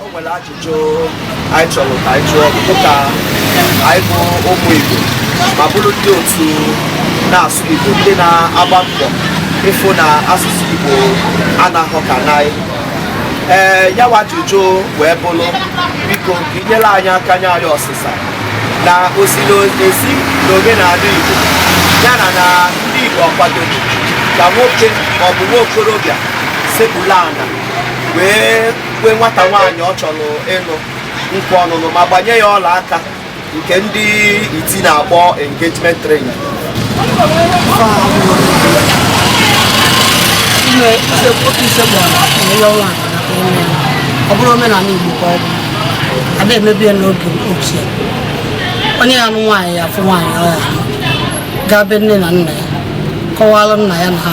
o nwere ajụjụ anyị chọrọ ka anyị jụọ bụ ka anyị bụ ụmụ Igbo ma bụrụ ndị otu na-asụ Igbo ndị na-agba mbọ ịfụ na asụsụ Igbo anaghọ ka n'anyị ee ya wa ajụjụ wee bụrụ biko ka i nyere anyị aka nye anyị ọsịsa na o ziri ezi na omenala Igbo ya na na ndị Igbo ọ kwadoro ka nwoke maọbụ nwa okorobịa sekpuru ala wee kwe nwata nwaanyị ọ chọrọ ịlụ nkwa ọnụnụ ma gbanye ya ọla aka nke ndị iti na-akpọ engagement ring ọ bụrọ omenala Igbo ka ọ bụ a da emebu ya n'oge ochie onye ya anụ nwaanyị ya afụ nwaanyị ọ ya gaa be nne na nna ya kọwara nna ya na ha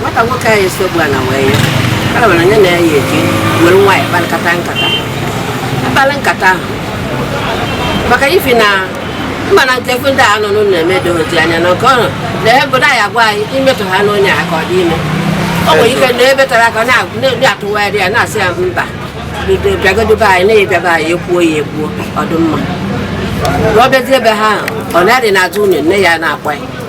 nwata nwoke anyị sekpu ala wee ya kara were onye na-eyi eji were nwaanyị kparịkata nkata akpara nkata ahụ maka ifi na mma na nke ndị a nọ n'ụlọ eme dị oji anya na nke ọrụ na ebe obodo anyị agwa anyị imetụ ha n'onye aka ọ dị ime ọ nwere ike na ebe tara aka na-atụgharị ya na-asị ya mba bido bịagodobe anyị na-abịaba anyị ekwuo ya ekwuo ọ dị mma ọ bịazie ebe ha ọ na-adị n'azụ ụlọ nne ya na-akwa ya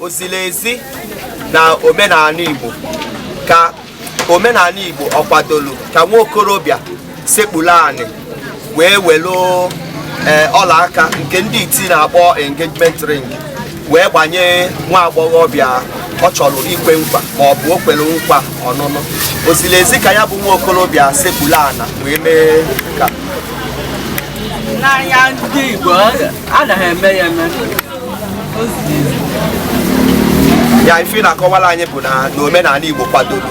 o ziri ezi na omenala Igbo ka omenala Igbo ọ kwadoro ka nwa okorobịa sekpuru anị wee welu eh, ọla aka nke ndị iti na-akpọ engagement ring wee gbanye nwa agbọghọbịa ọ chọrọ ikwe nkwa ma ọ bụ o kwere nkwa ọnụnụ o ziri ezi ka ya bụ nwa okorobịa sekpuru ana wee mee ka n'anya ndị Igbo anaghị eme ya eme ya ife ị na-akọwara anyị bụ na omenala Igbo kwadoro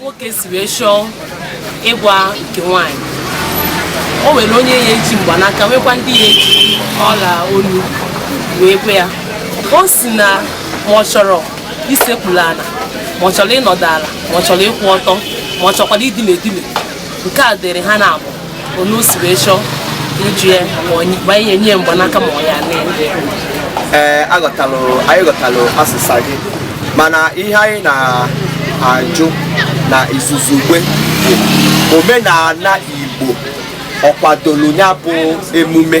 nwoke si wee chọọ ịgwa nke nwaanyị o nwere onye ya eji mgbanaka nwekwa ndị ya eji ọla olu wee kwe ya o si na ma ọ chọrọ isekpuru ala ma ọ chọrọ ịnọdụ ala ma ọ chọrọ ịkwụ ọtọ ma ọ chọkwara idine edine nke a dịrị ha naabọ onu si wee chọọ ịjụ ya ma onye ma ihe nye mgbanaka ma ọ ya na ee aghọtalụ anyị ghọtalụ asịsa gị mana ihe anyị na-ajụ na izuzugbe bụ omenala Igbo ọ kwadoro ya bụ emume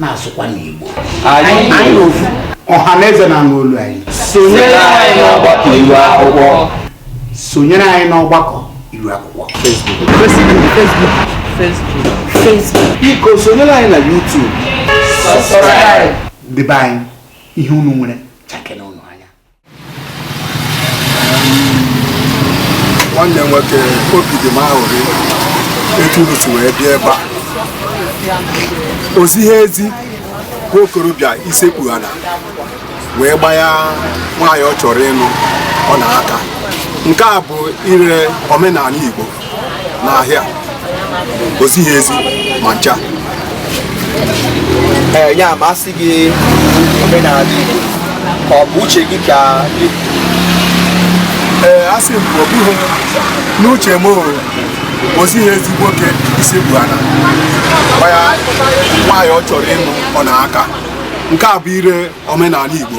na-asụkwa n'Igbo anyị ofu ọha na eze na-anụ olu anyị sonyere anyị n'ọgbakọ iru akwụkwọ sonyere anyị n'ọgbakọ iru akwụkwọ biko sonyere anyị na YouTube debe anyị ihe unu nwere chakena nwanne nwoke obi dị m aṅụrị etu unu si wee bịa ebe a o zighị ezi bụ okorobịa isekpu ana wee gbanye nwaanyị ọ chọrọ ịnụ ọna aka nke a bụ ire omenala Igbo n'ahịa o zighị ezi ma ncha ee ya ma asị gị omenala Igbo ka ọ bụ uche gị ka ee asị m ọ bụghị n'uche m o zighị ezi nwoke isekpu ana gbanye nwaanyị ọ chọrọ ịnụ ọna aka nke a bụ ire omenala Igbo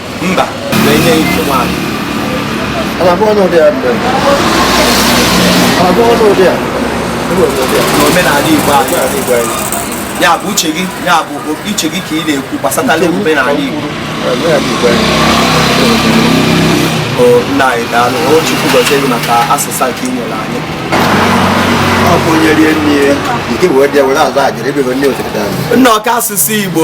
mba na-enye ike nwaanyị n'omenala Igbo anyị ya bụ uche gị ya bụ uche gị ka ị na-ekwu gbasatala omenala Igbo nna anyị daalụ o Chukwu gọzie gị maka asịsa nke ị nyere anyị ọ bụ onye rie nne ya nke wee dị were azụ ajere ebe nne otere nna ọka asụsụ Igbo